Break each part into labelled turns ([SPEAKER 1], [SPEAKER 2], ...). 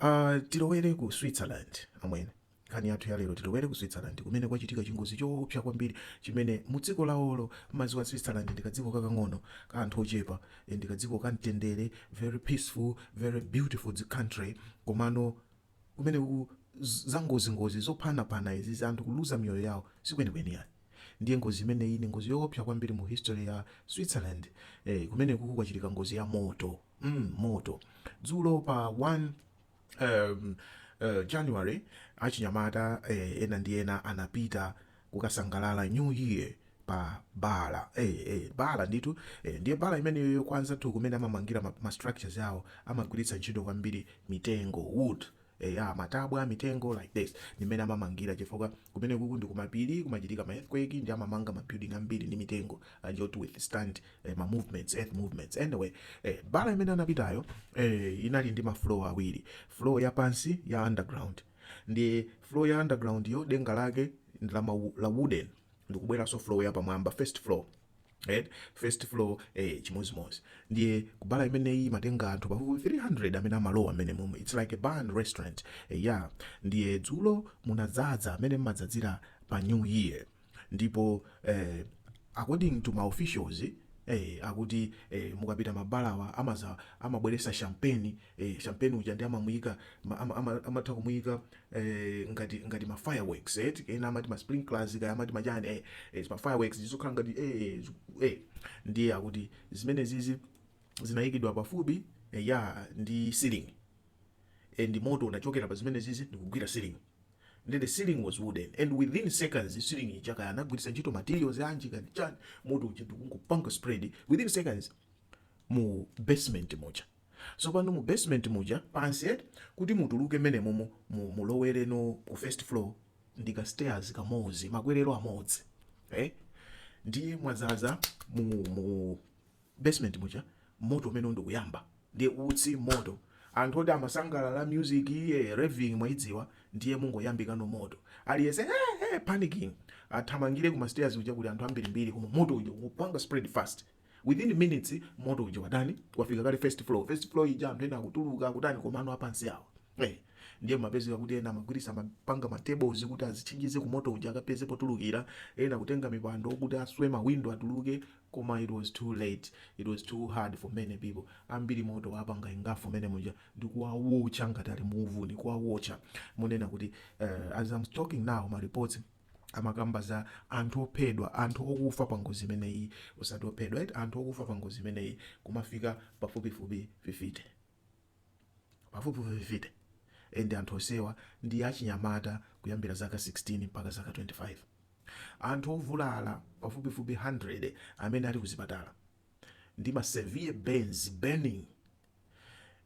[SPEAKER 1] Uh, tilowere ku Switzerland amwene. Nkhani yathu ya lero tilowere ku Switzerland kumene kwachitika chingozi choopsa kwambiri chimene mu dziko lawolo madziwa Switzerland ndi kadziko kakang'ono ka anthu ochepa eh, ndi kadziko ka mtendere very peaceful very beautiful dzi- country komano kumene ku z- za ngozi ngozi zophanapana izi za anthu kuluza miyoyo yawo sikwenikweni yani ndiye ngozi imeneyi ni ngozi yoopsa kwambiri mu history ya Switzerland eh, kumeneku kwachitika ngozi ya moto mm, moto dzulo pa 1 um, uh, january achinyamata eh, ena ndi ena anapita kukasangalala new year pa bala eh, eh, bala nditu eh, ndiye bala imeneyoyo kwa anzathu kumene amamangira ma, ma structures awo amagwiritsa ntchito kwambiri mitengo wood eya matabwa a mitengo like this ndimene amamangira chifukwa kumeneku ndi kumapiri kumachitika ma earthquake ndi amamanga ma building ambiri ndi mitengo uh, to withstand eh, ma movements earth movements anyway eh, bala imene anapitayo eh, inali ndi ma floor awiri floor ya pansi ya underground ndi floor ya underground-yo denga lake ndi la, ma, la wooden ndikubweranso floor ya pamwamba first floor Then, first floor eh, chimozimozi ndiye kubala imeneyi imatenga anthu pafupi 300 amene amalowa mmenemomo it's like a bar and restaurant eh, ya ndiye dzulo munadzadza mmene mmadzadzira pa new year ndipo eh, according to ma officials Eh, akuti eh, mukapita mabalawa amaza amabweresa champagne eh, champagne uja ndi amamuyika ma- ama- ama- amatha kumuyika eh, ngati ngati ma fireworks eh ena amati ma sprinklers kaya amati machani eh, eh ma fireworks zizikhala ngati eh, ziku- eh ndiye akuti zimenezizi zinayikidwa pafupi eh, ya ndi ceiling eh, ndi moto unachokera pa zimenezizi ndikugwira ceiling then the ceiling was wooden and within seconds the ceiling ija kaya anagwiritsa ntchito materials anji kani chani moto uja ndikungopanga spread within seconds mu basement muja So pano mu basement muja pansi eti kuti mutuluke menemomo mu mulowereno ku first floor ndi ka stairs kamozi makwelelo amodzi eh ndiye mwazaza mu mu basement muja moto umenewu ndikuyamba ndiye utsi moto anthu oti amasangalala music iye raving mwaidziwa ndiye mungoyambikano moto aliyese hey, hey, panicking athamangire ku mastairs kuja kuli anthu ambirimbiri koma moto uja ukupanga spread fast Within minutes moto uja watani wafika kale first floor. First floor ija anthu ena akutuluka akutani komano apansi awa. Eh, ndiye mapezeka kuti ena amagwirisa mapanga ma table kuti azitchinjize ku moto uja akapeze potulukira. Ena kutenga mipando kuti aswe ma window atuluke koma it was too late. It was too hard for many people. Ambiri moto wapanga engulf mmene muja ndi kuwawocha ngati ali mu uvuni kuwawocha. Munena kuti uh, as I'm talking now ma reports amakamba za anthu ophedwa, anthu okufa pa ngozi imeneyi, osati ophedwa eti, anthu okufa pa ngozi imeneyi kumafika pafupifupi 50, pafupifupi 50 and anthu onsewa ndi achinyamata kuyambira zaka 16 mpaka zaka 25. Anthu ovulala pafupifupi 100 amene ali kuzipatala ndi ma severe burns, burning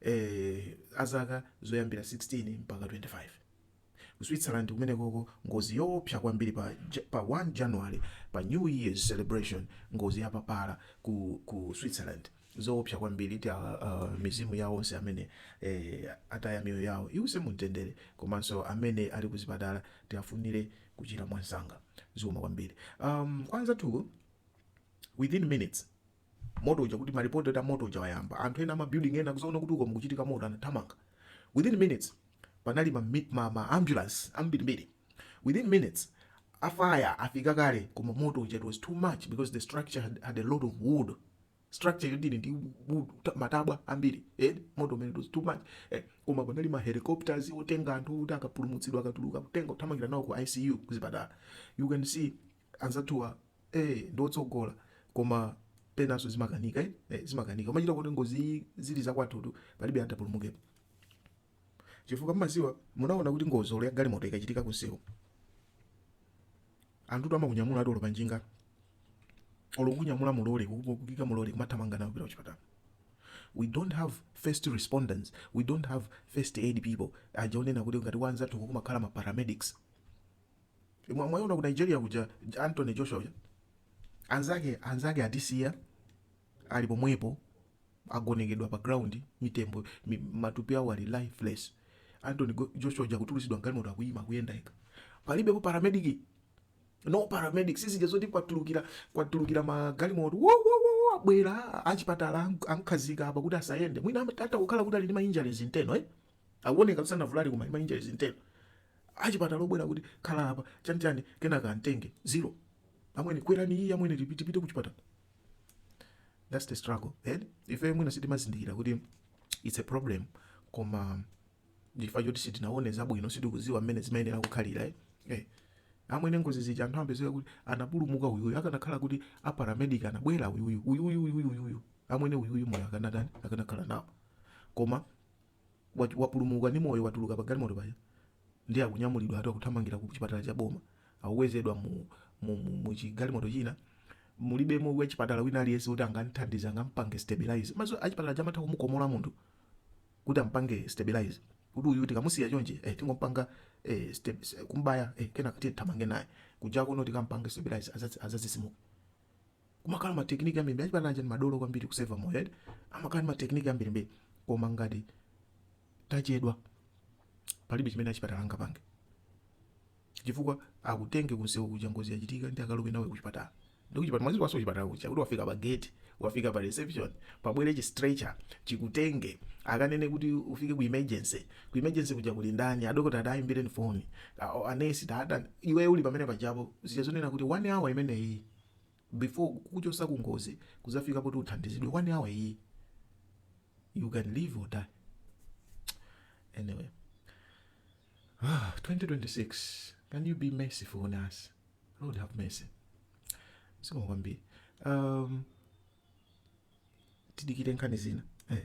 [SPEAKER 1] eh, a zaka zoyambira 16 mpaka 25 ku switzerland kumenekoko ngozi yoopsa kwambiri pa, Ja- pa 1 january pa new year's celebration ngozi yapapala ku, ku switzerland zoopsa kwambiri ti uh, uh, mizimu yawo onse amene eh, ataya miyoyo yawo iwuse mumtendere komanso amene ali kuzipatala tiafunire kuchira mwansanga zikomo kwambiri um, kwa anzathu within minutes moto uja kuti ma report oti moto uja wayamba anthu ena ama building ena akuzaona kuti uko mukuchitika moto anathamanga within minutes panali ma, mi- ma, ma ambulance ambirimbiri within minutes a fire afika kale koma moto uja it was too much because the structure had, had a lot of wood structure yoti ili ndi wood, ta- matabwa ambiri eh, moto umene it was too much eh, koma panali ma helicopters otenga anthu kuti akapulumutsidwa akatuluka kutenga kuthamangira nawo ku icu kuzipatala you can see anzathuwa ee ndiotsogola koma penaso zimakanika eh? eh, zimakanika umachita kuti ngozi zili zakwathutu palibe atapulumukepo chifukwa mmaziwa munaona kuti ngozi olo ya galimoto ikachitika kunsewu anthutu amakunyamula ati olo panjinga olo kukunyamula mulole kukuika mulole kumathamanga nawo kupita kuchipatala we don't have first responders we don't have first aid people aja onena kuti ngati kwa anzathuku kumakhala ma paramedics Mwa- mwayiona ku nigeria kuja J- anthony joshua uja anzake anzake atisiya ali pomwepo agonekedwa pa ground mitembo mi, matupi awo ali lifeless anthony Go- joshua uja kutulutsidwa mgalimoto akuyima akuyenda yekha palibepo paramedic no paramedic sizija zoti kwatulukira kwatulukira magalimoto wo, wo, wo, wo, abwera achipatala ank- ankhazika apa kuti asayende mwina amat- atakukhala kuti ali ndi ma injuries internal eh? akuoneka kuti sanavulale koma ma injuries internal achipatala obwera kuti khala apa chani chani kenaka amtenge zero amwene kwerani iyi amwene tipi- tipite kuchipatala that's the struggle then ife mwina sitimazindikira kuti it's a problem koma ndi chifukwa choti sitinaone zabwino sitikuziwa mmene zimayenera kukhalira eh. eh. amwene ngozi zija anthu amapezeka kuti anapulumuka uyuyu akanakhala kuti aparamedic anabwera uyuyu uyuyu uyuyu uyuyu amwene uyuyu moyo akanatani akanakhala nawo koma Wati wapulumuka ndi moyo watuluka pa galimoto paja ndiye akunyamulidwa ati akuthamangira ku chipatala cha boma akukwezedwa mu mu mu mu chi galimoto china mulibemo wachipatala wina aliyense woti angamthandize angampange stabilise mwadziwa achipatala aja amatha kumukomola munthu kuti ampange stabilise kuti uyu tikamusiya chonchi eh tingompanga eh kumubaya eh kenaka tiye tithamange naye kuja kuno tikampange stabilise azadzitsimuke kumakhala ma technique ambiri mbiri achipatala aja ndi madolo kwambiri kuseva moyo eti amakhala ndi ma technique ambiri mbiri koma ngati tachedwa palibe chimene achipatala angapange chifukwa akutenge kunsewu kuja ngozi yachitika ndi akalowe nawe kuchipatala ndipo kuchipatala mwazidziwanso kuchipatala kuja kuti wafika pa gate wafika pa reception pabwere chi stretcher chikutenge akanene kuti ufike ku emergency Ku emergency kuja kuli ndani? Adokota ati, ayi imbireni foni a- a- anesi tatani. Iweyo uli pamene pajapo zija zonena kuti 1 hour imeneyi before kukuchotsa ku ngozi kudzafika poti uthandizidwe 1 hour iyi you can live or die. Anyway, 2026 can you be merciful on us? Lord have mercy. Zikomo kwambiri. Um, tidikire nkhani zina. Eh.